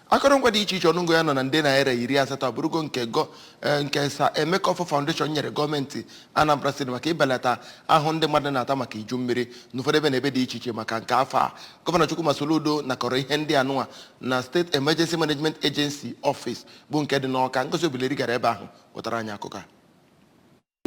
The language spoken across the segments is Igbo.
akọrọngwa dị iche iche ọnụngo ya nọ na nde naira iri asatọ abụrụgo nke gọ eh, nke sir emeka ọfọ foundation nyere gọọmenti anambra steeti maka ibelata ahụhụ ndị mmadụ na-ata maka iju mmiri n'ụfọdụ ebe na ebe dị iche iche maka nke afọ a gọvanọ chukwuma soludo nakọrọ ihe ndị anụnwa na state emergency management agency office bụ nke dị n'ọka ngozi obileri gara ebe ahụ wetara anyị akụkọ a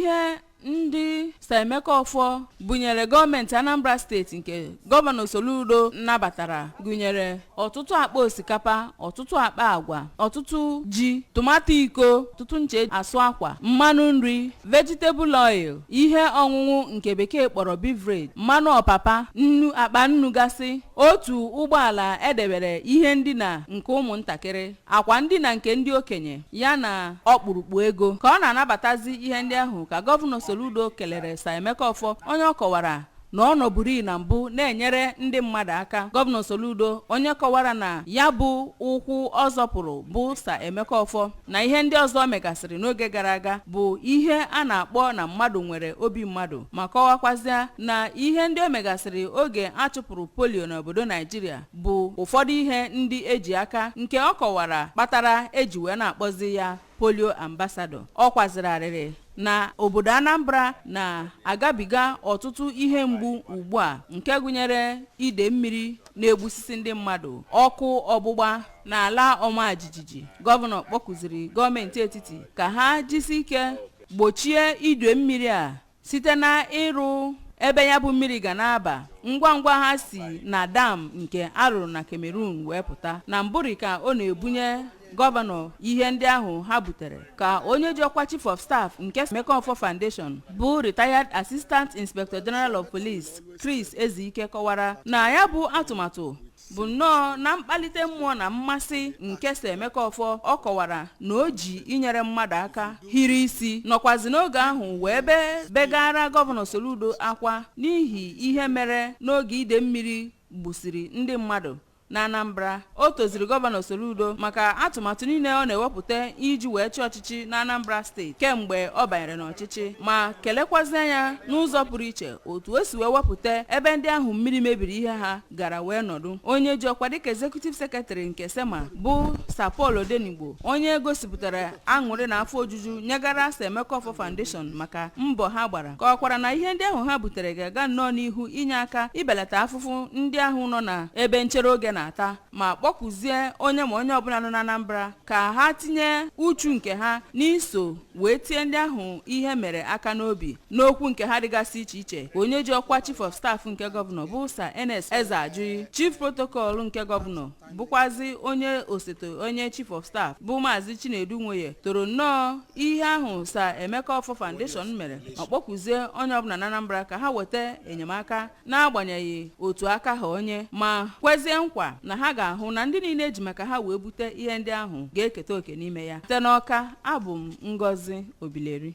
ihe ndị Sir Emeka Ọfọ bunyere gọọmenti Anambra steeti nke gọvanọ Soludo nabatara gụnyere ọtụtụ akpa osikapa ọtụtụ akpa agwa ọtụtụ ji tomato iko ọtụtụ nche asụ akwa mmanụ nri vegetable oil ihe ọṅụṅụ nke bekee kpọrọ beverage mmanụ ọpapa nnu akpa nnu gasị otu ụgbọala edebere ihe ndina nke ụmụntakịrị akwa ndina nke ndị okenye ya na ọkpụrụkpụ ego ka ọ na-anabatazi ihe ndị ahụ ka gọvanọ Soludo kelere Sir Emeka Ọfọ onye ọ kọwara na ọ nọburu na mbụ na-enyere ndị mmadụ aka gọvanọ Soludo onye kọwara na ya bụ ụkwụ ọ zọpụrụ bụ Sir Emeka Ọfọ na ihe ndị ọzọ o megasịrị n'oge gara aga bụ ihe a na-akpọ na mmadụ nwere obi mmadụ ma kọwakwazịa na ihe ndị o megasịrị oge a chụpụrụ polio n'obodo Naijiria bụ ụfọdụ ihe ndị eji aka nke ọ kọwara kpatara eji wee na-akpọzi ya polio ambassador ọ kwazịrị arịrị na obodo anambra na-agabiga ọtụtụ ihe mgbu ugbu a nke gụnyere ide mmiri na-egbusisi ndị mmadụ ọkụ ọgbụgba na ala ọma jijiji gọvanọ kpọkuziri gọọmenti etiti ka ha jisi ike gbochie ide mmiri a site na ịrụ ebe ya bụ mmiri ga na-aba ngwa ngwa ha si na dam nke a rụrụ na Cameroon wee pụta na mbụri ka ọ na-ebunye gọvanọ ihe ndị ahụ ha butere ka onye ji ọkwa chief of staff nke Emeka Ọfọ Foundation bụ retired assistant inspector general of police Chris Ezike kọwara na ya bụ atụmatụ bụ nnọọ na mkpalite mmụọ na mmasị nke sir emeka ọfọ ọ kọwara na o ji inyere mmadụ aka hiri isi nọkwazi n'oge ahụ wee be begara gọvanọ soludo akwa n'ihi ihe mere n'oge ide mmiri gbusiri ndị mmadụ na anambra o toziri gọvanọ soludo maka atụmatụ niile ọ na-ewepụta iji wee chịa ọchịchị na anambra steeti kemgbe ọ banyere n'ọchịchị ma kelekwazie ya n'ụzọ pụrụ iche otu o si wee wepụta ebe ndị ahụ mmiri mebiri ihe ha gara wee nọdụ onye ji ọkwa dịka executive secretary nke sema bụ sir paul odenigbo onye gosipụtara aṅụrị na afọ ojuju nyegara sir emeka ọfọ foundation maka mbọ ha gbara kọwakwara na ihe ndị ahụ ha butere ga-aga nnọọ n'ihu inye aka ibelata afụfụ ndị ahụ nọ na ebe nchere oge na-ata ma kpọkuzie onye ma onye ọbụla nọ na anambra ka ha tinye uchu nke ha n'iso wee tie ndị ahụ ihe mere aka n'obi n'okwu nke ha dịgasị iche iche onye ji ọkwa chief of staff nke gọvanọ bụ sa ernest ezeajughi chief protocol nke gọvanọ bụkwazi onye osote onye chief of staff bụ maazị chinedu nwoye toro nnọọ ihe ahụ sa emeka offor foundation mere ma kpọkuzie onye ọbụla na anambra ka ha weta enyemaka n'agbanyeghị otu aka ha onye ma kwezie nkwa na ha ga-ahụ na ndị niile e ji maka ha wee bute ihe ndị ahụ ga-eketa oke n'ime ya site n'Ọka abụ m Ngozi Obileri